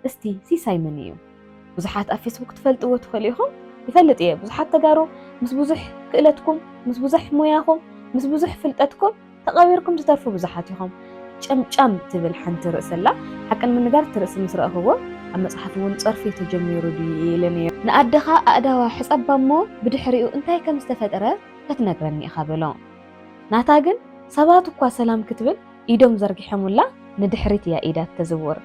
እስቲ ሲሳይ መን እዩ? ብዙሓት ኣብ ፌስቡክ ትፈልጥዎ ትኽእሉ ኢኹም። ይፈልጥ እየ ብዙሓት ተጋሩ ምስ ብዙሕ ክእለትኩም፣ ምስ ብዙሕ ሞያኹም፣ ምስ ብዙሕ ፍልጠትኩም ተቐቢርኩም ትተርፉ ብዙሓት ኢኹም። ጨምጫም ትብል ሓንቲ ርእሲ ኣላ። ሓቂ ንምንጋር እቲ ርእሲ ምስ ረኣኹዎ ኣብ መጽሓፍ እውን ጸርፊ ተጀሚሩ ድዩ ኢለ ነይረ። ንኣደኻ ኣእዳዋ ሕጸባ እሞ ብድሕሪኡ እንታይ ከም ዝተፈጥረ ከትነግረኒ ኢኻ በሎ። ናታ ግን ሰባት እኳ ሰላም ክትብል ኢዶም ዘርጊሖሙላ ንድሕሪት እያ ኢዳ እትዝውር።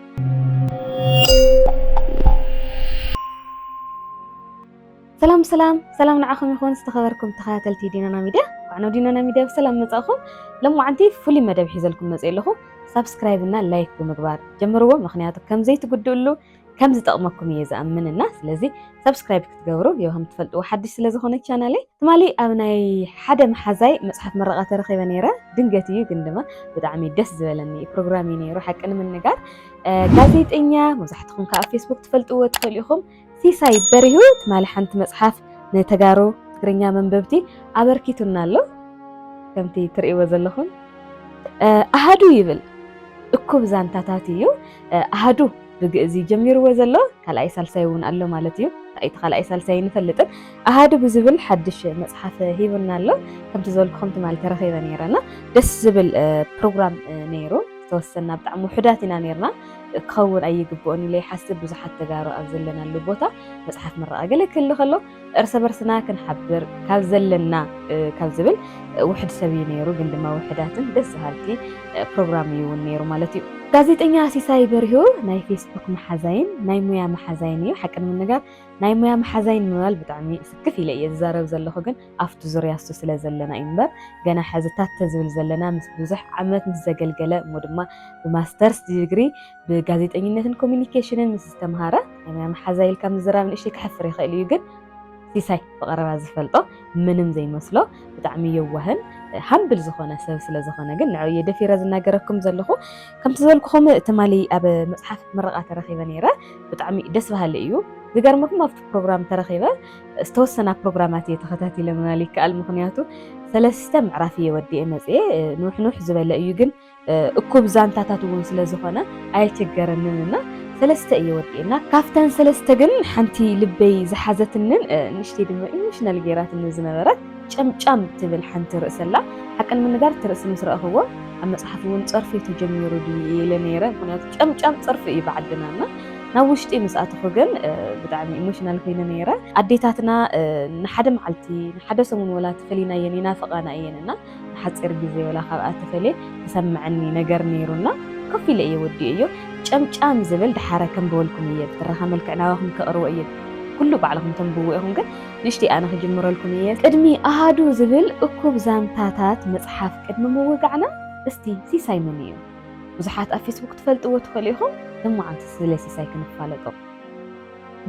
ሰላም ሰላም ሰላም ንዓኹም ይኹን ዝተኸበርኩም ተኸታተልቲ ዲናና ሚድያ እንኳዕ ናብ ዲናና ሚድያ ብሰላም መጻእኹም። ሎማዓንቲ ፍሉይ መደብ ሒዘልኩም መጽእ ኣለኹ ሳብስክራይብ እና ላይክ ብምግባር ጀምርዎ ምክንያቱ ከም ዘይትጉድእሉ ከም ዝጠቕመኩም እየ ዝኣምን እና ስለዚ ሰብስክራይብ ክትገብሩ የውሃም ትፈልጥዎ ሓድሽ ስለ ዝኾነ ቻናለይ ትማሊ ኣብ ናይ ሓደ መሓዛይ መፅሓፍ ምረቓ ተረኺበ ነይረ ድንገት እዩ ግን ድማ ብጣዕሚ ደስ ዝበለኒ ፕሮግራም እዩ ነይሩ ሓቂ ንምንጋር ጋዜጠኛ መብዛሕትኹም ከዓ ኣብ ፌስቡክ ትፈልጥዎ ትኽእሉ ኢኹም ሲሳይ በሪሁ ትማሊ ሓንቲ መፅሓፍ ንተጋሩ ትግርኛ መንበብቲ ኣበርኪቱና ኣሎ ከምቲ ትርእይዎ ዘለኹም ኣሃዱ ይብል እኩብ ዛንታታት እዩ ኣሃዱ ብግእዝ እዩ ጀሚርዎ ዘሎ ካልኣይ ሳልሳይ እውን ኣሎ ማለት እዩ እቲ ካልኣይ ሳልሳይ ይንፈልጥን ኣሃዱ ብዝብል ሓድሽ መፅሓፍ ሂቡና ኣሎ ከምቲ ዝበልኩኹም ትማሊ ተረኺበ ነይረ እና ደስ ዝብል ፕሮግራም ነይሩ ዝተወሰና ብጣዕሚ ውሕዳት ኢና ነርና ክኸውን ኣይግብኦን ኢለ ይሓስብ ብዙሓት ተጋሩ ኣብ ዘለናሉ ቦታ መፅሓፍ ምረቓ ገለ ክህሉ ከሎ እርሰ በርስና ክንሓብር ካብ ዘለና ካብ ዝብል ውሕድ ሰብ እዩ ነይሩ፣ ግን ድማ ውሕዳትን ደስ ዝሃልቲ ፕሮግራም እዩ እውን ነይሩ ማለት እዩ። ጋዜጠኛ ሲሳይ በሪሁ ናይ ፌስቡክ መሓዛይን ናይ ሙያ መሓዛይን እዩ። ሓቂ ንምንጋር ናይ ሙያ መሓዛይን ምባል ብጣዕሚ ስክፍ ኢለ እየ ዝዛረብ ዘለኹ፣ ግን ኣብቲ ዙርያ እሱ ስለ ዘለና እዩ እምበር ገና ሕዚ ታተ ዝብል ዘለና ምስ ብዙሕ ዓመት ምስ ዘገልገለ እሞ ድማ ብማስተርስ ዲግሪ ብጋዜጠኝነትን ኮሚኒኬሽንን ምስ ዝተምሃረ መሓዛ ኢልካ ምዝራብ ንእሽተይ ክሕፍር ይኽእል እዩ ግን ሲሳይ ብቐረባ ዝፈልጦ ምንም ዘይመስሎ ብጣዕሚ የዋህን ሃምብል ዝኾነ ሰብ ስለ ዝኾነ ግን ንዕኡ እየ ደፊረ ዝናገረኩም ዘለኹ ከምቲ ዝበልኩኹም ትማሊ ኣብ መፅሓፍ ምረቓ ተረኺበ ነይረ ብጣዕሚ ደስ በሃሊ እዩ ዝገርመኩም ኣብቲ ፕሮግራም ተረኺበ ዝተወሰና ፕሮግራማት እየ ተኸታቲለ ምባል ይከኣል ምክንያቱ ሰለስተ ምዕራፍ እየ ወዲኤ መፅኤ ንውሕንውሕ ዝበለ እዩ ግን እኩብ ዛንታታት እውን ስለ ዝኾነ ኣየቸገረንን እና ሰለስተ እየ ወዲኤና ካብተን ሰለስተ ግን ሓንቲ ልበይ ዝሓዘትንን ንእሽተይ ድማ ኢሞሽናል ገይራትኒ ዝነበረት ጨምጫም ትብል ሓንቲ ርእሰላ ሓቂ ንምንጋር እቲ ርእሲ ምስ ረእኽዎ ኣብ መፅሓፍ እውን ፀርፊ ተጀሚሩ ድዩ ኢለ ነይረ ምክንያቱ ጨምጫም ፀርፊ እዩ ብዓድና እና ናብ ውሽጢ ምስ ኣተኹ ግን ብጣዕሚ ኢሞሽናል ኮይነ ነይረ ኣዴታትና ንሓደ መዓልቲ ንሓደ ሰሙን ወላ ተፈሊና እየን ይናፍቓና እየን እና ንሓፂር ግዜ ወላ ካብኣ ተፈልየ ተሰመዐኒ ነገር ነይሩ እና ኮፍ ኢለ እየ ወዲኤዮ ጨምጫም ዝብል ድሓረ ከንብበልኩም እየ ብትረኻ መልክዕ ናባኹም ከቕርቦ እየ ኩሉ ባዕልኹም ተንብብዎ ኢኹም ግን ንእሽተይ ኣነ ክጅምረልኩም እየ ቅድሚ ኣሃዱ ዝብል እኩብ ዛንታታት መፅሓፍ ቅድሚ ምውጋዕና እስቲ ሲሳይ መን እዩ ብዙሓት ኣብ ፌስቡክ ትፈልጥዎ ትኽእሉ ኢኹም እሞ ዓንተ ስለ ሲሳይ ክንፋለጦ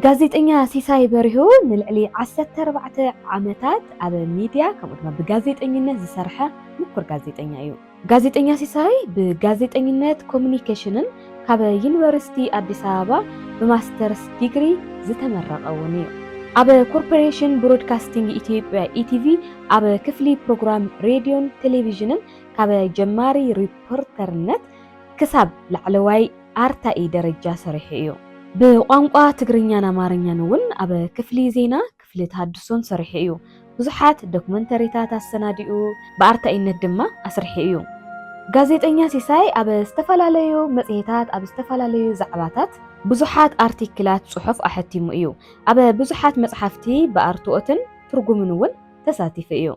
ጋዜጠኛ ሲሳይ በሪሁ ንልዕሊ ዓሰርተ ኣርባዕተ ዓመታት ኣብ ሚድያ ከምኡ ድማ ብጋዜጠኝነት ዝሰርሐ ምኩር ጋዜጠኛ እዩ። ጋዜጠኛ ሲሳይ ብጋዜጠኝነት ኮሙኒኬሽንን ካብ ዩኒቨርሲቲ ኣዲስ ኣበባ ብማስተርስ ዲግሪ ዝተመረቐ እውን እዩ። ኣብ ኮርፖሬሽን ብሮድካስቲንግ ኢትዮጵያ፣ ኢቲቪ፣ ኣብ ክፍሊ ፕሮግራም ሬድዮን ቴሌቪዥንን ካብ ጀማሪ ሪፖርተርነት ክሳብ ላዕለዋይ ኣርታኢ ደረጃ ሰሪሑ እዩ። ብቋንቋ ትግርኛን ኣማርኛን እውን ኣብ ክፍሊ ዜና፣ ክፍሊ ተሃድሶን ሰሪሑ እዩ። ብዙሓት ዶክመንተሪታት ኣሰናዲኡ፣ ብኣርታኢነት ድማ ኣስሪሑ እዩ። ጋዜጠኛ ሲሳይ ኣብ ዝተፈላለዩ መጽሔታት ኣብ ዝተፈላለዩ ዛዕባታት፣ ብዙሓት ኣርቲክላት ጽሑፍ ኣሐቲሙ እዩ። ኣብ ብዙሓት መጽሓፍቲ ብኣርትኦትን ትርጉምን እውን ተሳቲፉ እዩ።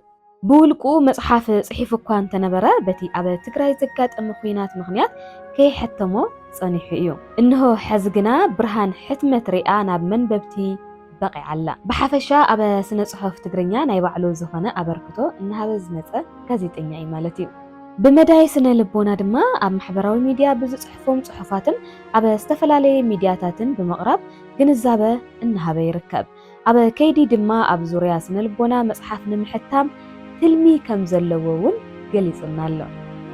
ብውልቁ መጽሓፍ ጽሒፉ እኳ እንተነበረ፣ በቲ ኣብ ትግራይ ዘጋጠመ ኹናት ምኽንያት ከየሐተሞ ጸኒሑ እዩ። እንሆ ሐዚ ግና ብርሃን ሕትመት ሪኣ ናብ መንበብቲ በቒዓ ኣላ። ብሓፈሻ ኣብ ስነ-ጽሑፍ ትግርኛ ናይ ባዕሉ ዝኾነ ኣበርክቶ እናሃበ ዝመጸ ጋዜጠኛ እዩ ማለት እዩ። ብመዳይ ስነ-ልቦና ድማ ኣብ ማሕበራዊ ሚድያ ብዝጽሕፎም ጽሑፋትን ኣብ ዝተፈላለየ ሚድያታትን ብምቕራብ ግንዛበ እናሃበ ይርከብ። ኣብ ከይዲ ድማ ኣብ ዙርያ ስነልቦና መፅሓፍ ንምሕታም ትልሚ ከምዘለዎ እውን ገሊፁልና ኣሎ።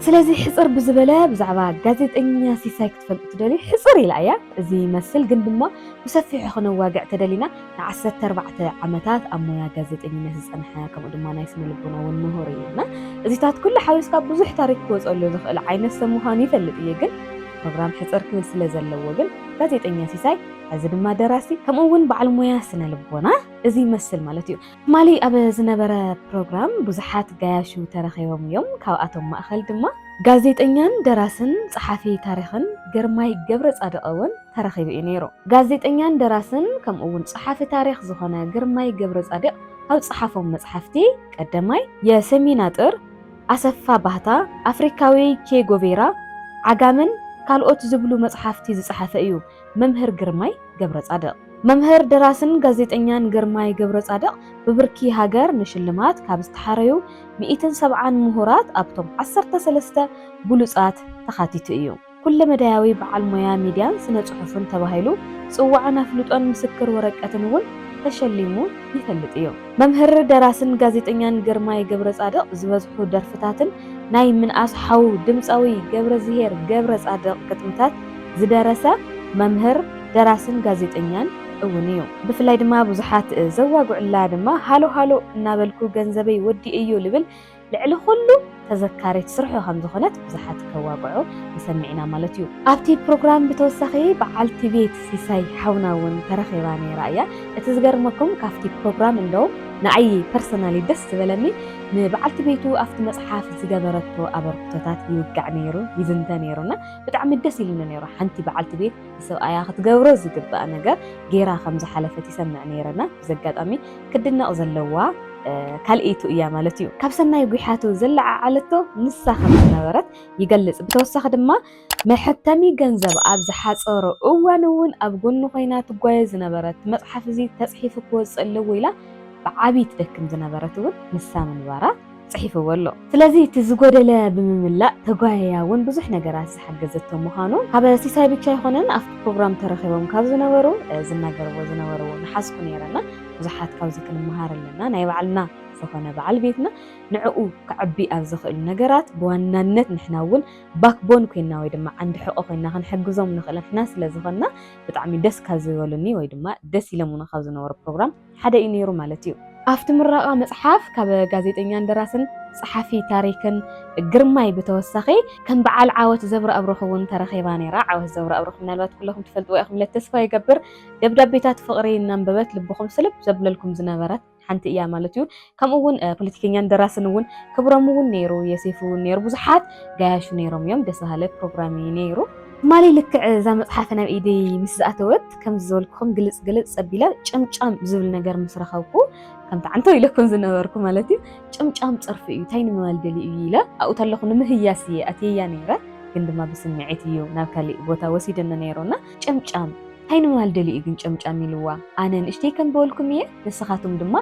ስለዚ ሕፅር ብዝበለ ብዛዕባ ጋዜጠኛ ሲሳይ ክትፈልጡ ትደልዩ ሕፅር ኢላ እያ እዚ ይመስል ግን ድማ ብሰፊሑ ክነዋግዕ ተደሊና ንዓሰርተ ኣርባዕተ ዓመታት ኣብ ሞያ ጋዜጠኝነት ዝፀንሐ ከምኡ ድማ ናይ ስነልቦና እውን ምሁር እዩ እና እዚታት ኩሉ ሓዊስካ ብዙሕ ታሪክ ክወፀሉ ዝኽእል ዓይነት ሰብ ምዃኑ ይፈልጥ እየ ግን ፕሮግራም ሕፅር ክብል ስለ ዘለዎ ግን ጋዜጠኛ ሲሳይ ሕዚ ድማ ደራሲ ከምኡ እውን በዓል ሙያ ስነ ልቦና እዚ ይመስል ማለት እዩ። ትማሊ ኣብ ዝነበረ ፕሮግራም ብዙሓት ጋያሹ ተረኺቦም እዮም። ካብኣቶም ማእኸል ድማ ጋዜጠኛን ደራስን ፀሓፊ ታሪኽን ግርማይ ገብረፃድቕ እውን ተረኺቡ እዩ ነይሩ። ጋዜጠኛን ደራስን ከምኡ እውን ፀሓፊ ታሪኽ ዝኾነ ግርማይ ገብረፃድቕ ካብ ፀሓፎም መፅሓፍቲ ቀደማይ የሰሚን ኣጥር፣ ኣሰፋ ባህታ፣ ኣፍሪካዊ ቼ ጎቬራ፣ ዓጋመን ካልኦት ዝብሉ መፅሓፍቲ ዝፀሓፈ እዩ። መምህር ግርማይ ገብረጻድቕ። መምህር ደራስን ጋዜጠኛን ግርማይ ገብረጻድቕ ብብርኪ ሃገር ንሽልማት ካብ ዝተሓረዩ ሚኢትን ሰብዓን ምሁራት ኣብቶም ዓሰርተ ሰለስተ ብሉጻት ተኻቲቱ እዩ። ኩለመዳያዊ በዓል ሞያ ሚድያን ስነ ፅሑፍን ተባሂሉ ፅዋዕን ኣፍልጦን ምስክር ወረቀትን እውን ተሸሊሙ ይፈልጥ እዩ። መምህር ደራስን ጋዜጠኛን ግርማይ ገብረጻድቕ ዝበዝሑ ደርፍታትን ናይ ምንኣስ ሓው ድምጻዊ ገብረዝሄር ገብረጻድቕ ግጥምታት ዝደረሰ መምህር ደራስን ጋዜጠኛን እውን እዩ። ብፍላይ ድማ ብዙሓት ዘዋግዑላ ድማ ሃሎ ሃሎ እናበልኩ ገንዘበይ ወዲኤዮ ልብል ልዕሊ ኩሉ ተዘካሪት ስርሑ ከም ዝኾነት ብዙሓት ከዋግዑ ንሰምዕ ኢና ማለት እዩ። ኣብቲ ፕሮግራም ብተወሳኺ በዓልቲ ቤት ሲሳይ ሓውና እውን ተረኺባ ነይራ እያ። እቲ ዝገርመኩም ካብቲ ፕሮግራም እንደውም ንዓይ ፐርሰናሊ ደስ ዝበለኒ ንበዓልቲ ቤቱ ኣብቲ መጽሓፍ ዝገበረቶ ኣበርክቶታት ይውጋዕ ነይሩ ይዝንተ ነይሩ እና ብጣዕሚ ደስ ኢሉኒ ነይሩ። ሓንቲ በዓልቲ ቤት ንሰብኣያ ክትገብሮ ዝግባእ ነገር ገይራ ከም ዝሓለፈት ይሰምዕ ነይረ እና ብዚ ኣጋጣሚ ክድነቕ ዘለዋ ካልኢቱ እያ ማለት እዩ። ካብ ሰናይ ጉሓቱ ዘለዓዓለቶ ንሳ ከም ዝነበረት ይገልጽ። ብተወሳኺ ድማ መሐተሚ ገንዘብ ኣብ ዝሓጸሮ እዋን እውን ኣብ ጎኑ ኮይና ትጓየ ዝነበረት መጽሓፍ እዚ ተጽሒፉ ክወጽእ ኣለዎ ኢላ ብዓቢ ትደክም ዝነበረት እውን ንሳ ምንባራ ጽሒፍዎ ኣሎ። ስለዚ እቲ ዝጎደለ ብምምላእ ተጓይያ እውን ብዙሕ ነገራት ዝሓገዘቶ ምዃኑ ካብ ሲሳይ ብቻ ኣይኮነን ኣብቲ ፕሮግራም ተረኺቦም ካብ ዝነበሩ ዝናገርዎ ዝነበሩ እውን ሓዝኩ ነይረ እና ብዙሓት ካብዚ ክንመሃር ኣለና ናይ ባዕልና ዝኾነ በዓል ቤትና ንዕኡ ከዕቢ ኣብ ዝኽእሉ ነገራት ብዋናነት ንሕና እውን ባክቦን ኮይና ወይ ድማ ዓንዲ ሕቆ ኮይና ክንሕግዞም ንኽእል ንሕና ስለ ዝኾንና ብጣዕሚ ደስ ካብ ዝበሉኒ ወይ ድማ ደስ ኢሎምኒ ካብ ዝነበሩ ፕሮግራም ሓደ እዩ ነይሩ ማለት እዩ። ኣብቲ ምረቓ መጽሓፍ ካብ ጋዜጠኛን ደራስን ጸሓፊ ታሪክን ግርማይ ብተወሳኺ ከም በዓል ዓወት ዘብረኣብሩኽ እውን ተረኺባ ነይራ። ዓወት ዘብረኣብሩኽ ምናልባት ኩለኹም ትፈልጥዋ ኢኹም ኢለ ተስፋ ይገብር። ደብዳቤታት ፍቕሪ እናንበበት ልብኹም ስልብ ዘብለልኩም ዝነበረት ሓንቲ እያ ማለት እዩ። ከምኡ ውን ፖለቲከኛን ደራስን ውን ክብሮም ውን ነይሩ የሴፉ ውን ነይሩ ብዙሓት ጋያሹ ነይሮም እዮም ደስ በሃለ ፕሮግራም እዩ ነይሩ። ትማሊ ልክዕ እዛ መጽሓፈ ናብ ኢደይ ምስ ዝኣተወት ከምዚ ዝበልኩኹም ግልጽ ግልጽ ጸቢለ ጭምጫም ዝብል ነገር ምስ ረኸብኩ ከምቲ ዓንተው ኢለኩም ዝነበርኩ ማለት እዩ ጭምጫም ጸርፊ እዩ እንታይ ንምባል ደልዩ እዩ ኢለ ኣብኡ ተለኹ ንምህያስ እየ ኣትየያ ነይረ ግን ድማ ብስምዒት እዩ ናብ ካሊእ ቦታ ወሲደኒ ነይሩና ጨምጫም እንታይ ንምባል ደልዩ ግን ጨምጫም ኢልዋ ኣነ ንእሽተይ ከም በልኩም እየ ንስኻትኩም ድማ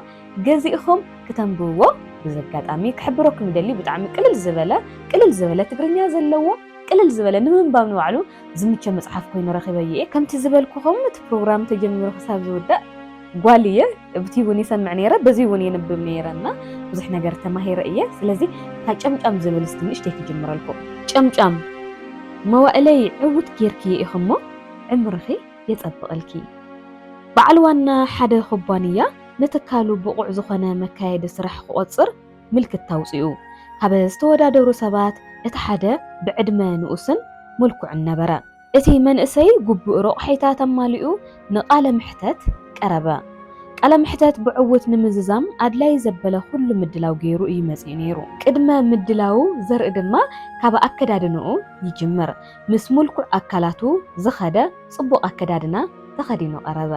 ገዚእኹም ክተንብብዎ በዚ ኣጋጣሚ ክሕብረኩም ይደሊ ብጣዕሚ ቅልል ዝበለ ቅልል ዝበለ ትግርኛ ዘለዎ ቅልል ዝበለ ንምንባብ ንባዕሉ ዝምቸ መጽሓፍ ኮይኑ ረኺበዮ እየ ከምቲ ዝበልኩኹም እቲ ፕሮግራም ተጀሚሩ ክሳብ ዝውዳእ ጓል እየ ብቲ እውን ይሰምዕ ነይረ በዚ እውን የንብብ ነይረ እና ብዙሕ ነገር ተማሂረ እየ ስለዚ እታ ጨምጫም ዝብል እስቲ ንእሽተይ ክጅምረልኩ ጨምጫም መዋእለይ ዕውት ጌርክየ ኢኹሞ ዕምርኺ የጸብቐልኪ በዓል ዋና ሓደ ኩባንያ ንትካሉ ብቑዕ ዝኾነ መካየዲ ስራሕ ክቖጽር ምልክታ ኣውጺኡ። ካብ ዝተወዳደሩ ሰባት እቲ ሓደ ብዕድመ ንኡስን ምልኩዕን ነበረ። እቲ መንእሰይ ግቡእ ረቑሒታት ኣማሊኡ ንቃለ መሕተት ቀረበ። ቃለ መሕተት ብዕዉት ንምዝዛም ኣድላይ ዘበለ ኩሉ ምድላው ገይሩ እዩ መጺኡ ነይሩ። ቅድመ ምድላዉ ዘርኢ ድማ ካብ ኣከዳድንኡ ይጅምር። ምስ ምልኩዕ ኣካላቱ ዝኸደ፣ ጽቡቕ ኣከዳድና ተኸዲኑ ቀረበ።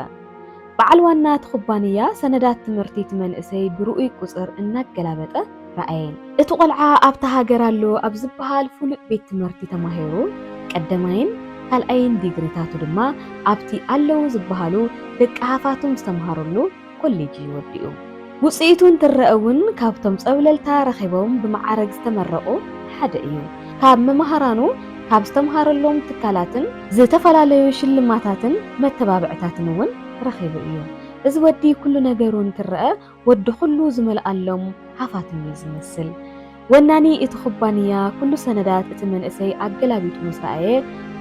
በዓል ዋና እቲ ኩባንያ ሰነዳት ትምህርቲ እቲ መንእሰይ ብርኡይ ቁጽር እናገላበጠ ረኣየን። እቲ ቆልዓ ኣብታ ሃገር ኣሎ ኣብ ዝበሃል ፍሉጥ ቤት ትምህርቲ ተማሂሩ፣ ቀደማይን ካልኣይን ዲግሪታቱ ድማ ኣብቲ ኣለዉ ዝበሃሉ ደቂ ሃፋትም ዝተምሃሩሉ ኮሌጅ እዩ ወዲኡ። ውፅኢቱ እንትረእ እውን ካብቶም ፀብለልታ ረኺቦም ብመዓረግ ዝተመረቑ ሓደ እዩ። ካብ መማህራኑ፣ ካብ ዝተምሃረሎም ትካላትን ዝተፈላለዩ ሽልማታትን መተባብዕታትን እውን ረኺቡ እዩ። እዚ ወዲ ኩሉ ነገሩ እንትረእ ወዲ ኩሉ ዝመልኣሎም ሃፋትም እዩ ዝመስል። ወናኒ እቲ ኩባንያ ኩሉ ሰነዳት እቲ መንእሰይ ኣገላቢጡ ምስ ረኣየ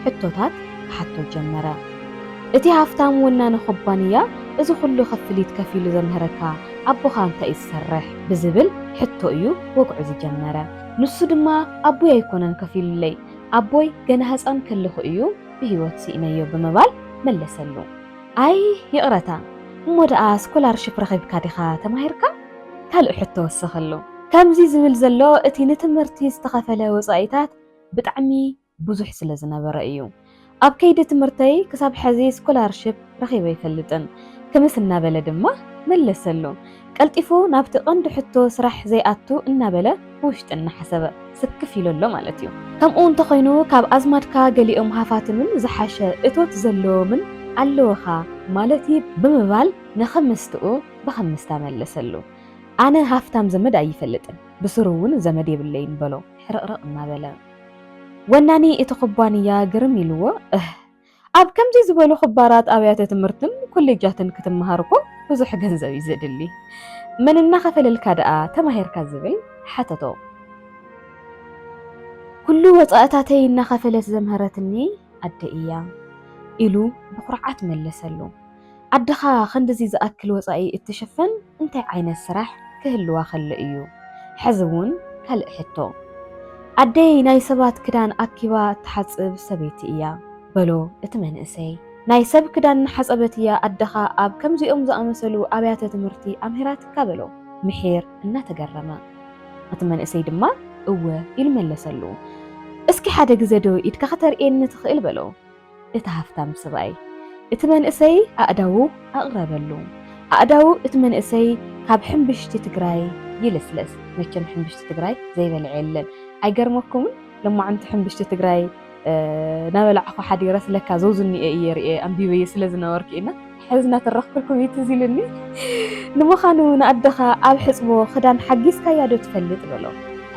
ሕቶታት ክሓቶ ጀመረ። እቲ ሃፍታም ወናኒ ኩባንያ እዚ ኩሉ ክፍሊት ከፊሉ ዘምህረካ ኣቦኻ እንታይ እዩ ዝሰርሕ? ብዝብል ሕቶ እዩ ወግዑ ዝጀመረ። ንሱ ድማ ኣቦይ ኣይኮነን ከፊሉለይ፣ ኣቦይ ገና ህጻን ከለኹ እዩ ብህይወት ስኢነዮ ብምባል መለሰሉ። ኣይ ይቕረታ! እሞ ደኣ ስኮላርሺፕ ረኺብካ ዲኻ ተማሂርካ? ካልእ ሕቶ ወሰኸሉ። ከምዚ ዝብል ዘሎ እቲ ንትምህርቲ ዝተኸፈለ ወጻኢታት ብጣዕሚ ብዙሕ ስለ ዝነበረ እዩ። ኣብ ከይዲ ትምህርተይ ክሳብ ሐዚ ስኮላርሺፕ ረኺበ ኣይፈልጥን ክምስ እናበለ ድማ መለሰሉ። ቀልጢፉ ናብቲ ቀንዲ ሕቶ ስራሕ ዘይኣቱ እናበለ ብውሽጢ እናሓሰበ ስክፍ ኢሉ ኣሎ ማለት እዩ። ከምኡ እንተኾይኑ ካብ ኣዝማድካ ገሊኦም ሃፋትምን ዝሓሸ እቶት ዘለዎምን ኣለውኻ ማለት'ዩ ብምባል ንኽምስትኡ ብኸምስ ተመለሰሉ። ኣነ ሃፍታም ዘመድ ኣይፈልጥን፣ ብስሩ እውን ዘመድ የብለይን በሎ ሕርቕርቕ እናበለ። ወናኒ እቲ ኩባንያ ግርም ኢሉዎ፣ እህ! ኣብ ከምዚ ዝበሉ ክባራት ኣብያተ ትምህርትን ኮሌጃትን ክትመሃር እኮ ብዙሕ ገንዘብ እዩ ዘድሊ። መን እናኸፈለልካ ደኣ ተማሂርካ ዝብል ሓተቶ። ኩሉ ወጻእታተይ እናኸፈለት ዘምሀረትኒ ኣደይ እያ ኢሉ ብኹርዓት መለሰሉ። ኣደኻ ክንድዚ ዝኣክል ወጻኢ እትሽፍን እንታይ ዓይነት ስራሕ ክህልዋ ከሎ እዩ? ሕዚ እውን ካልእ ሕቶ። ኣደይ ናይ ሰባት ክዳን ኣኪባ እትሓጽብ ሰበይቲ እያ። በሎ እቲ መንእሰይ። ናይ ሰብ ክዳን እናሓጸበት እያ ኣደኻ ኣብ ከምዚኦም ዝኣመሰሉ ኣብያተ ትምህርቲ ኣምሂራትካ? በሎ ምሒር እናተገረመ። እቲ መንእሰይ ድማ እወ ኢሉ መለሰሉ። እስኪ ሓደ ግዘ ዶ ኢድካ ከተርእየኒ ትኽእል? በሎ። እቲ ሃፍታም ስብኣይ እቲ መንእሰይ ኣእዳዉ ኣቕረበሉ። ኣእዳዉ እቲ መንእሰይ ካብ ሕምብሽቲ ትግራይ ይልስለስ። መቸም ሕምብሽቲ ትግራይ ዘይበልዐ የለን። ኣይገርመኩምን? ሎማዕንቲ ሕምብሽቲ ትግራይ ናበላዕኹ ሓዲረስ ለካ ዘውዝኒኤ እየ ርኤ ኣንቢበየ ስለ ዝነበርኩ ኢና ሕዚ እናተረኽኩልኩም እዩ ትዝ ኢሉኒ። ንምዃኑ ንኣደኻ ኣብ ሕፅቦ ክዳን ሓጊዝካያ ዶ ትፈልጥ በሎ።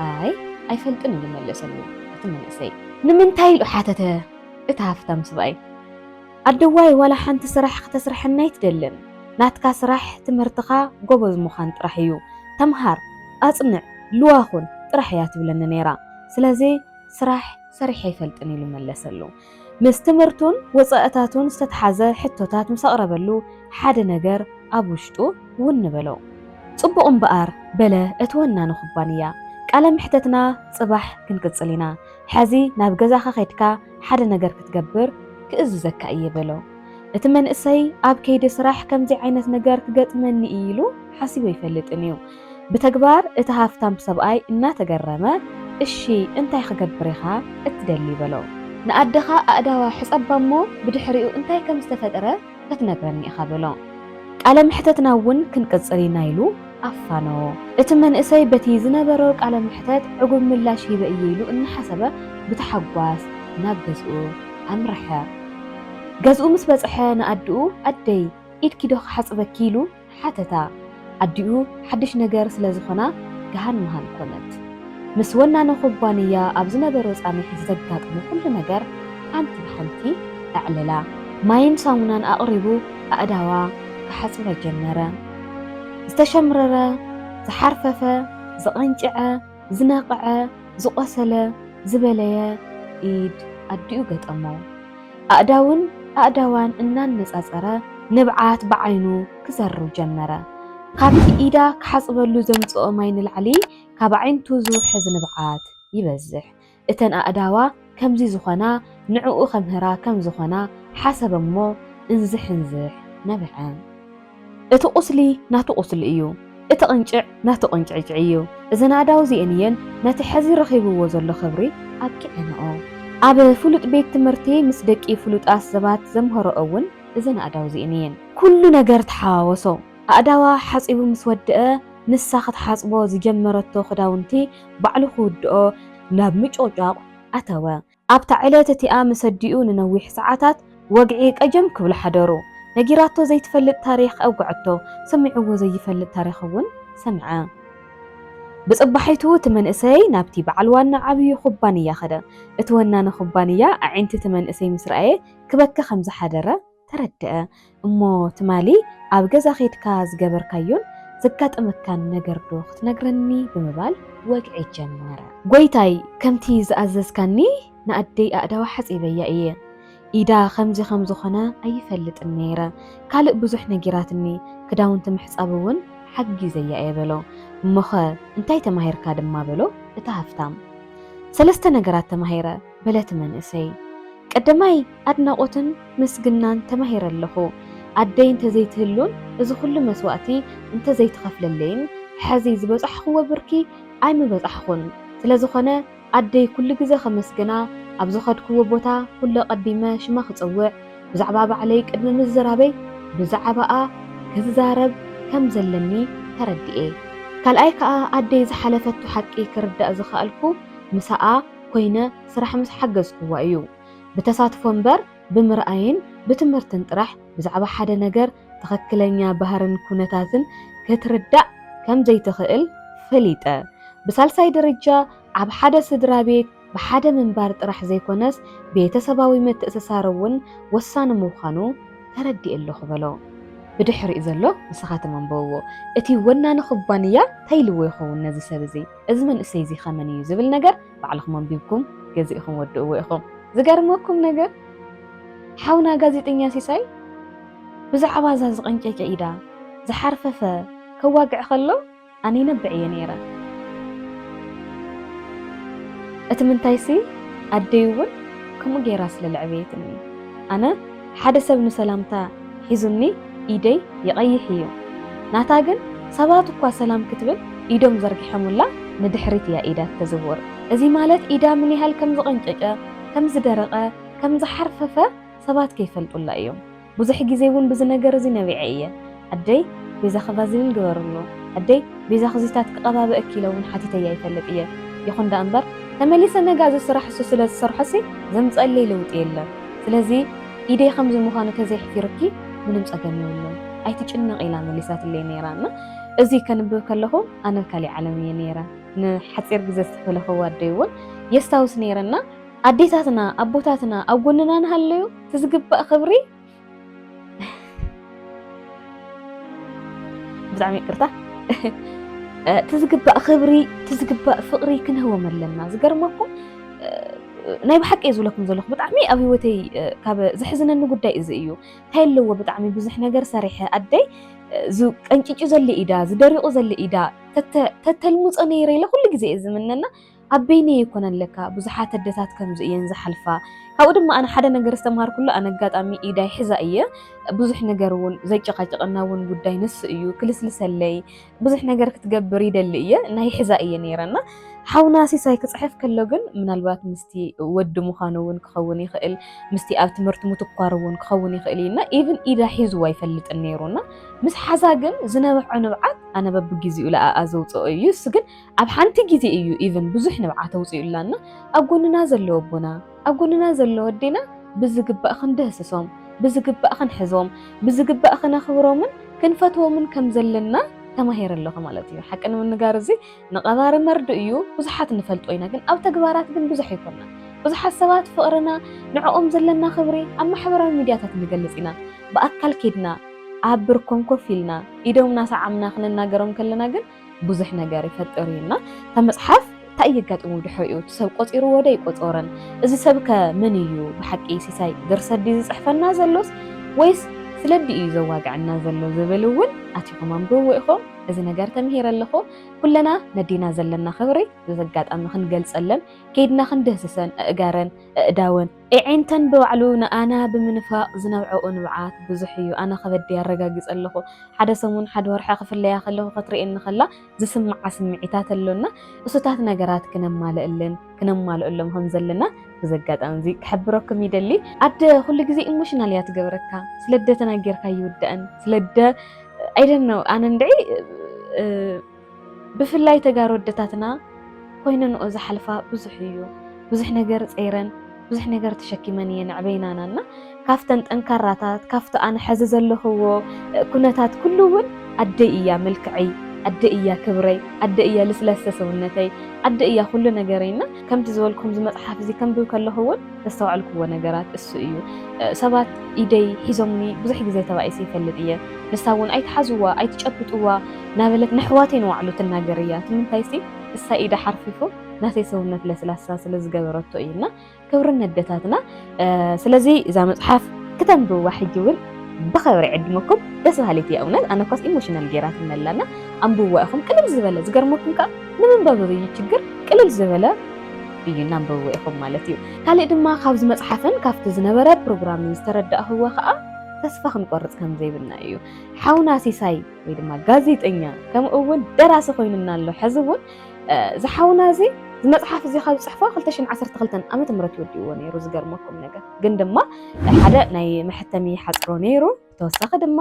ኣይ ኣይፈልጥን እዩ መለሰሉ እቲ መንእሰይ። ንምንታይ ኢሉ ሓተተ። እቲ ሃፍታም ስብኣይ ኣደዋይ ዋላ ሓንቲ ስራሕ ክተስርሐኒ ኣይትደልን ናትካ ስራሕ ትምህርትኻ ጎበዝ ምዃን ጥራሕ እዩ ተምሃር ኣፅንዕ ልዋህ ኹን ጥራሕ እያ ትብለኒ ነይራ ስለዚ ስራሕ ሰሪሐ ኣይፈልጥን ኢሉ መለሰሉ ምስ ትምህርቱን ወፃእታቱን ዝተትሓዘ ሕቶታት ምስ ኣቕረበሉ ሓደ ነገር ኣብ ውሽጡ ውን በሎ ፅቡቕ እምበኣር በለ እቲ ወናኒ ኩባንያ ቃለ መሕተትና ፅባሕ ክንቅፅል ኢና። ሐዚ ናብ ገዛኻ ኬድካ ሓደ ነገር ክትገብር ክእዝዘካ እየ በሎ። እቲ መንእሰይ ኣብ ከይዲ ስራሕ ከምዚ ዓይነት ነገር ክገጥመኒ እዩ ኢሉ ሓሲቡ ኣይፈልጥን እዩ። ብተግባር እቲ ሃፍታም ሰብኣይ እናተገረመ እሺ እንታይ ክገብር ኢኻ እትደሊ በሎ። ንኣደኻ ኣእዳዋ ሕፀባ እሞ ብድሕሪኡ እንታይ ከምዝተፈጥረ ክትነግረኒ ኢኻ በሎ። ቃለ መሕተትና እውን ክንቅጽል ኢና ኢሉ ኣፋነዎ። እቲ መንእሰይ በቲ ዝነበሮ ቃለ መሕተት ዕጉብ ምላሽ ሂበ እየ ኢሉ እናሓሰበ ብታሕጓስ ናብ ገዝኡ ኣምረሐ። ገዝኡ ምስ በጽሐ ንኣድኡ ኣደይ ኢድኪ ዶ ክሓጽበኪ ኢሉ ሓተታ፣ ኣዲኡ ሓድሽ ነገር ስለ ዝኾና ገሃን መሃን ኮነት። ምስ ወናኒ ኩባንያ ኣብ ዝነበሮ ጻኒሒት ዘጋጠሞ ኩሉ ነገር ሓንቲ ብሓንቲ ኣዕለላ። ማይን ሳሙናን ኣቕሪቡ ኣእዳዋ ክሓጽበ ጀመረ። ዝተሸምረረ፣ ዝሓርፈፈ፣ ዝቐንጨዐ፣ ዝነቐዐ፣ ዝቖሰለ፣ ዝበለየ ኢድ ኣዲኡ ገጠሞ። ኣእዳውን ኣእዳዋን እናነጻጸረ ንብዓት ብዓይኑ ክዘርው ጀመረ። ካብቲ ኢዳ ክሓጽበሉ ዘምጽኦ ማይ ንላዕሊ ካብ ኣዒንቱ ዝውሕዝ ንብዓት ይበዝሕ። እተን ኣእዳዋ ከምዚ ዝኾና ንዕኡ ከምህራ ከም ዝኾና ሓሰበ'ሞ እንዝሕንዝሕ ነበዐ። እቲ ቁስሊ ናቱ ቁስሊ እዩ እቲ ቅንጭዕ ናቱ ቅንጭዕጭዕ እዩ እዘን ኣእዳው እዚኤን እየን ነቲ ሐዚ ረኺብዎ ዘሎ ክብሪ ኣብቂዐንኦ ኣብ ፍሉጥ ቤት ትምህርቲ ምስ ደቂ ፍሉጣት ሰባት ዘምሀረኦ እውን እዘን ኣእዳው እዚኤን እየን። ኩሉ ነገር ተሓዋወሶ ኣእዳዋ ሓፂቡ ምስ ወደኣ ንሳ ክትሓፅቦ ዝጀመረቶ ክዳውንቲ ባዕሉ ክውድኦ ናብ ምጭቕጫቕ ኣተወ ኣብታ ዕለት እቲኣ ምስ ኣዲኡ ንነዊሕ ሰዓታት ወግዒ ቀጀም ክብሉ ሓደሩ። ነጊራቶ ዘይትፈልጥ ታሪኽ ኣውግዐቶ፣ ሰሚዑዎ ዘይፈልጥ ታሪኽ እውን ሰምዐ። ብጽባሒቱ እቲ መንእሰይ ናብቲ በዓል ዋና ዓብዩ ኩባንያ ከደ። እቲ ወናኒ ኩባንያ ኣዒንቲ እቲ መንእሰይ ምስ ረኣየ ክበኪ ከም ዝሓደረ ተረደኣ እሞ ትማሊ ኣብ ገዛ ኬድካ ዝገበርካዮን ዘጋጠመካን ነገር ዶ ክትነግረኒ ብምባል ወግዒ ጀመረ። ጎይታይ ከምቲ ዝኣዘዝካኒ ንኣደይ ኣእዳዋ ሓጺበያ እየ ኢዳ ከምዚ ከም ዝኾነ ኣይፈልጥን ነይረ ካልእ ብዙሕ ነጊራትኒ ክዳውንቲ ምሕጻብ እውን ሓጊዘያ እየ በሎ። እሞኸ እንታይ ተማሂርካ ድማ በሎ እቲ ሃፍታም። ሰለስተ ነገራት ተማሂረ። በለቲ መንእሰይ። ቀደማይ ኣድናቖትን ምስግናን ተማሂረ ኣለኹ። ኣደይ እንተዘይትህሉን እዚ ኩሉ መስዋእቲ እንተዘይትኸፍለለይን ሐዚ ዝበፃሕኹዎ ብርኪ ኣይምበፃሕኹን። ስለዝኾነ ኣደይ ኩሉ ግዘ ከመስግና ኣብ ዝኸድኩዎ ቦታ ኩሉ ኣቐዲመ ሽማ ክፅውዕ ብዛዕባ ባዕለይ ቅድሚ ምዝራበይ ብዛዕባኣ ክዛረብ ከምዘለኒ ተረዲኤ። ካልኣይ ከዓ ኣደይ ዝሓለፈቶ ሓቂ ክርዳእ ዝኸኣልኩ ምሳኣ፣ ኮይነ ስራሕ ምስ ሓገዝኩዋ እዩ። ብተሳትፎ እምበር ብምርኣይን ብትምህርትን ጥራሕ ብዛዕባ ሓደ ነገር ትኽክለኛ ባህርን ኩነታትን ክትርዳእ ከም ዘይትኽእል ፈሊጠ። ብሳልሳይ ደረጃ ኣብ ሓደ ስድራ ቤት ብሓደ ምንባር ጥራሕ ዘይኮነስ ቤተሰባዊ ምትእስሳር እውን ወሳኒ ምዃኑ ተረዲኤ ኣለኹ በሎ። ብድሕሪኡ ዘሎ ንስኻትም ኣንብብዎ። እቲ ወናኒ ኩባንያ ታይ ኢልዎ ይኸውን ነዚ ሰብ እዚ? እዚ መንእሰይ እዚ ከመን እዩ ዝብል ነገር ባዕልኹም ኣንቢብኩም ገዚእኹም ወድእዎ ኢኹም። ዝገርመኩም ነገር ሓውና ጋዜጠኛ ሲሳይ ብዛዕባ እዛ ዝቐንጨጨ ኢዳ ዝሓርፈፈ ከዋግዕ ከሎ ኣነ ይነብዕ እየ ነይረ። እቲ ምንታይሲ ኣደይ እውን ከምኡ ገይራ ስለ ለዕበየትኒ ኣነ ሓደ ሰብ ንሰላምታ ሒዙኒ ኢደይ ይቐይሕ እዩ። ናታ ግን ሰባት እኳ ሰላም ክትብል ኢዶም ዘርጊሖምላ ንድሕሪት እያ ኢዳ እተዝውር። እዚ ማለት ኢዳ ምን ያህል ከም ዝቐንጨጨ፣ ከም ዝደረቐ፣ ከም ዝሓርፈፈ ሰባት ከይፈልጡላ እዮም። ብዙሕ ግዜ እውን ብዚ ነገር እዚ ነቢዐ እየ። ኣደይ ቤዛኺ ቫዝሊን ግበርሉ፣ ኣደይ ቤዛኺ ዚታት ክቐባብእኪ ኢለ'ውን ሓቲተዮ ኣይፈልጥ እየ። ይኹን ደኣ እምበር፣ ተመሊሰ ነጋ እዚ ስራሕ እሱ ስለ ዝሰርሖሲ ዘምጽኣለይ ለውጢ የለን። ስለዚ፣ ኢደይ ከምዚ ምዃኑ ተዘይሕፊሩኪ ምንም ጸገም የብሉን፣ ኣይትጭነቒ ኢላ መሊሳትለይ ነይራ። እና እዚ ከንብብ ከለኹ ኣነ ኣብ ካሊእ ዓለም እየ ነይረ። ንሓጺር ግዜ ዝተፈለኽዎ ኣደይ'ውን የስታውስ ነይረ። እና ኣዴታትና ኣቦታትና ኣብ ጎንና እንሃለዩ እቲ ዝግባእ ክብሪ፣ ብጣዕሚ ይቅርታ እቲ ዝግባእ ክብሪ እቲ ዝግባእ ፍቅሪ ክንህቦም ኣለና ዝገርመኩም ናይ ብሓቂ እየ ዝብለኩም ዘለኹ ብጣዕሚ ኣብ ሂወተይ ካብ ዘሕዝነኒ ጉዳይ እዚ እዩ እንታይ ኣለዎ ብጣዕሚ ብዙሕ ነገር ሰሪሐ ኣደይ ቀንጭጩ ዘለ ኢዳ ዝደሪቑ ዘለ ኢዳ ተተልሙፆ ነይረ ኢለ ኩሉ ግዜ እየ ዝምነና ኣብ በይነይ ኣይኮነን ለካ ብዙሓት ኣደታት ከምዚ እየን ዝሓልፋ ካብኡ ድማ ኣነ ሓደ ነገር ዝተምሃርኩሉ ኣነ ኣጋጣሚ ኢዳይ ሕዛ እየ ብዙሕ ነገር እውን ዘጨቃጨቀና እውን ጉዳይ ንሱ እዩ ክልስልሰለይ ብዙሕ ነገር ክትገብር ይደሊ እየ ናይ ሕዛ እየ ነይረና ሓውና ሲሳይ ክፅሕፍ ከሎ ግን ምናልባት ምስቲ ወዲ ምዃኑ እውን ክኸውን ይኽእል ምስቲ ኣብ ትምህርቲ ምትኳር እውን ክኸውን ይኽእል እዩና ኢቭን ኢዳ ሒዝዎ ኣይፈልጥን ነይሩና ምስ ሓዛ ግን ዝነብዖ ንብዓት ኣነ በብግዜኡ ለኣኣ ዘውፅኦ እዩ እሱ ግን ኣብ ሓንቲ ግዜ እዩ ኢቭን ብዙሕ ንብዓት ኣውጺኡላና ኣብ ጎንና ዘሎ ኣቦና ኣብ ጎንና ዘሎ ኣዴና ብዝግባእ ክንድህስሶም ብዝግባእ ክንሕዞም ብዝግባእ ክነኽብሮምን ክንፈትዎምን ከም ዘለና ተማሂረ ኣለኹ ማለት እዩ። ሓቂ ንምንጋር እዚ ንቐባሪ መርድእ እዩ ብዙሓት ንፈልጦ ኢና፣ ግን ኣብ ተግባራት ግን ብዙሕ ኣይኮና። ብዙሓት ሰባት ፍቕርና ንዕኦም ዘለና ክብሪ ኣብ ማሕበራዊ ሚድያታት ንገልጽ ኢና። ብኣካል ኬድና ኣብ ብርኮም ኮፍ ኢልና ኢዶም ናሰዓምና ክንናገሮም ከለና ግን ብዙሕ ነገር ይፈጥር እዩ እና እታ መፅሓፍ እንታይ የጋጥሙ ድሕሪኡ እቲ ሰብ ቆፂርዎ ዶ ይቆፀርን እዚ ሰብ ከ መን እዩ ብሓቂ ሲሳይ ድርሰት ድዩ ዝፅሕፈና ዘሎስ ወይስ ስለዲ እዩ ዘዋግዐና ዘሎ ዝብል እውን ኣቲኹም ኣንብብዎ ኢኹም እዚ ነገር ተምሂረ ኣለኹ ኩለና ነዲና ዘለና ክብሪ ብዚ ኣጋጣሚ ክንገልፀለን ከይድና ክንድህስሰን እእጋረን እእዳወን ኤዒንተን ብባዕሉ ንኣና ብምንፋቕ ዝነብዐኦ ንብዓት ብዙሕ እዩ። ኣነ ከበደይ ኣረጋጊጸ ኣለኹ። ሓደ ሰሙን፣ ሓደ ወርሒ ክፍለያ ከለኹ ክትርእየኒ ከላ ዝስምዓ ስምዒታት ኣሎና። እሱታት ነገራት ክነማልእልን ክነማልኦሎም ከም ዘለና በዚ ኣጋጣሚ እዚ ክሕብረኩም ይደሊ። ኣደ ኩሉ ግዜ ኢሞሽናል እያ ትገብረካ። ስለደ ተናጊርካ ኣይውዳእን። ስለደ ኣይ ዶንት ኖው ኣነ እንድዒ ብፍላይ ተጋሩ ኣደታትና ኮይነንኦ ዝሓልፋ ብዙሕ እዩ ብዙሕ ነገር ፀይረን ብዙሕ ነገር ተሸኪመን እየን ኣዕበይናና እና ካብተን ጠንካራታት ካብቲ ኣነ ሐዚ ዘለኽዎ ኩነታት ኩሉ እውን ኣደይ እያ መልክዐይ ኣደ እያ ክብረይ ኣደ እያ ልስላሰ ሰውነተይ ኣደ እያ ኩሉ ነገረይ እና ከምቲ ዝበልኩም እዚ መፅሓፍ እዚ ከንብብ ከለኹ እውን ዘስተዋዕልኩዎ ነገራት እሱ እዩ። ሰባት ኢደይ ሒዞምኒ ብዙሕ ግዜ ተባኢሰ ይፈልጥ እየ። ንሳ እውን ኣይትሓዝዋ፣ ኣይትጨብጥዋ እናበለት ንኣሕዋተይ ንባዕሉ ትናገር እያ። እቲ ምንታይሲ ንሳ ኢዳ ሓርፊፉ ናተይ ሰውነት ለስላሳ ስለዝገበረቶ እዩ እና ክብሪ ነደታትና ስለዚ እዛ መጽሓፍ ክተንብዋ ሕጂ እውን ብኸብሪ ዕድመኩም ደስ በሃሊት እያ እውነት ኣነ ኳስ ኢሞሽናል ጌራትና ኣላና ኣንብዋ ኢኹም ቅልል ዝበለ ዝገርመኩም ከዓ ንምንባብ ዝብይ ችግር ቅልል ዝበለ እዩ እናንበብዎ ኢኹም ማለት እዩ ካልእ ድማ ካብዚ መፅሓፍን ካብቲ ዝነበረ ፕሮግራምን ዝተረዳእኽዎ ከዓ ተስፋ ክንቆርፅ ከም ዘይብልና እዩ ሓውና ሲሳይ ወይ ድማ ጋዜጠኛ ከምኡ እውን ደራሲ ኮይኑና ኣሎ ሕዚ እውን እዚ ሓውና እዚ እዚ መፅሓፍ እዚ ካብ ዝፅሕፎ 2012 ዓመተ ምህረት ወዲእዎ ነይሩ ዝገርመኩም ነገር ግን ድማ ሓደ ናይ መሐተሚ ሓፅሮ ነይሩ ተወሳኺ ድማ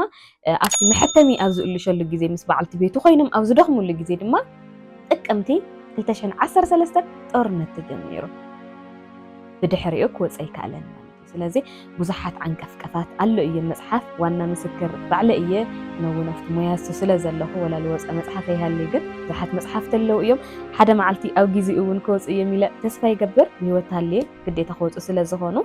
ኣብቲ መሐተሚ ኣብ ዝእልሸሉ ግዜ ምስ በዓልቲ ቤቱ ኮይኖም ኣብ ዝደኽሙሉ ግዜ ድማ ጥቅምቲ 2013 ጦርነት ተጀሚሩ ብድሕሪኡ ክወፀ ኣይከኣለን ስለዚ ብዙሓት ዓንቀፍቀፋት ኣሎ እየ መጽሓፍ ዋና ምስክር ባዕለ እየ ነውን ኣብቲ ሞያ እሱ ስለ ዘለኹ ወላ ዝወፀ መጽሓፍ ይሃልዩ ግን ብዙሓት መጽሓፍቲ ኣለዉ እዮም ሓደ መዓልቲ ኣብ ጊዜ እውን ክወፁ እዮም ኢለ ተስፋ ይገብር ብሂወት ሃልየ ግዴታ ክወፁ ስለ ዝኾኑ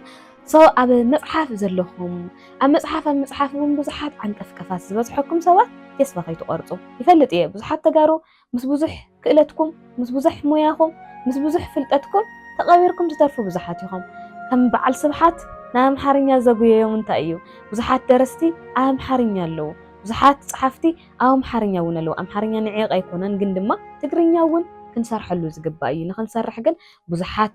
ሶ ኣብ መጽሓፍ ዘለኹም ኣብ መጽሓፍ ኣብ መጽሓፍ እውን ብዙሓት ዓንቀፍቀፋት ዝበዝሐኩም ሰባት ተስፋ ከይትቆርፁ ይፈልጥ እየ ብዙሓት ተጋሩ ምስ ብዙሕ ክእለትኩም፣ ምስ ብዙሕ ሞያኹም፣ ምስ ብዙሕ ፍልጠትኩም ተቐቢርኩም ትተርፉ ብዙሓት ኢኹም። ከም በዓል ስብሓት ናብ ኣምሓርኛ ዘጉየዮም እንታይ እዩ? ብዙሓት ደረስቲ ኣብ ኣምሓርኛ ኣለዉ። ብዙሓት ጸሓፍቲ ኣብ ኣምሓርኛ እውን ኣለዉ። ኣምሓርኛ ንዒቕ ኣይኮነን፣ ግን ድማ ትግርኛ እውን ክንሰርሐሉ ዝግባእ እዩ። ንኽንሰርሕ ግን ብዙሓት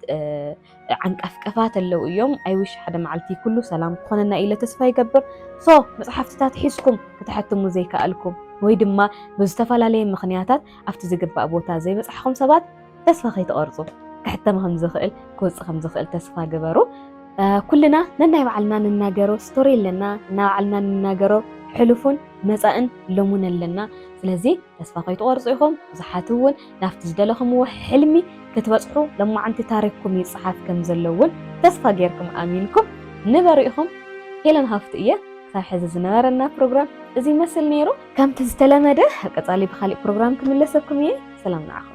ዓንቀፍቀፋት ኣለው እዮም ኣይዊሽ ሓደ መዓልቲ ኩሉ ሰላም ክኾነና ኢለ ተስፋ ይገብር ሶ መፅሓፍትታት ሒዝኩም ክትሐትሙ ዘይከኣልኩም ወይ ድማ ብዝተፈላለየ ምኽንያታት ኣብቲ ዝግባእ ቦታ ዘይበፃሕኹም ሰባት ተስፋ ከይትቐርፁ ክሕተም ከም ዝኽእል ክወፅእ ከም ዝኽእል ተስፋ ግበሩ። ኩልና ነናይ ባዕልና ንናገሮ ስቶሪ ኣለና፣ ናይ ባዕልና ንናገሮ ሕሉፉን መፃእን ሎሙን ኣለና። ስለዚ ተስፋ ከይትቐርፁ ኢኹም። ብዙሓት እውን ናብቲ ዝደለኹምዎ ሕልሚ ክትበጽሑ ለማዓንቲ ታሪኽኩም ይጽሓፍ ከም ዘሎ ውን ተስፋ ጌርኩም ኣሚንኩም ንበሩ ኢኹም ሄለን ሃፍቱ እየ ክሳብ ሕዚ ዝነበረና ፕሮግራም እዚ ይመስል ነይሩ ከምቲ ዝተለመደ ኣብ ቀጻሊ ብኻሊእ ፕሮግራም ክምለሰኩም እየ ሰላም ንዓኹም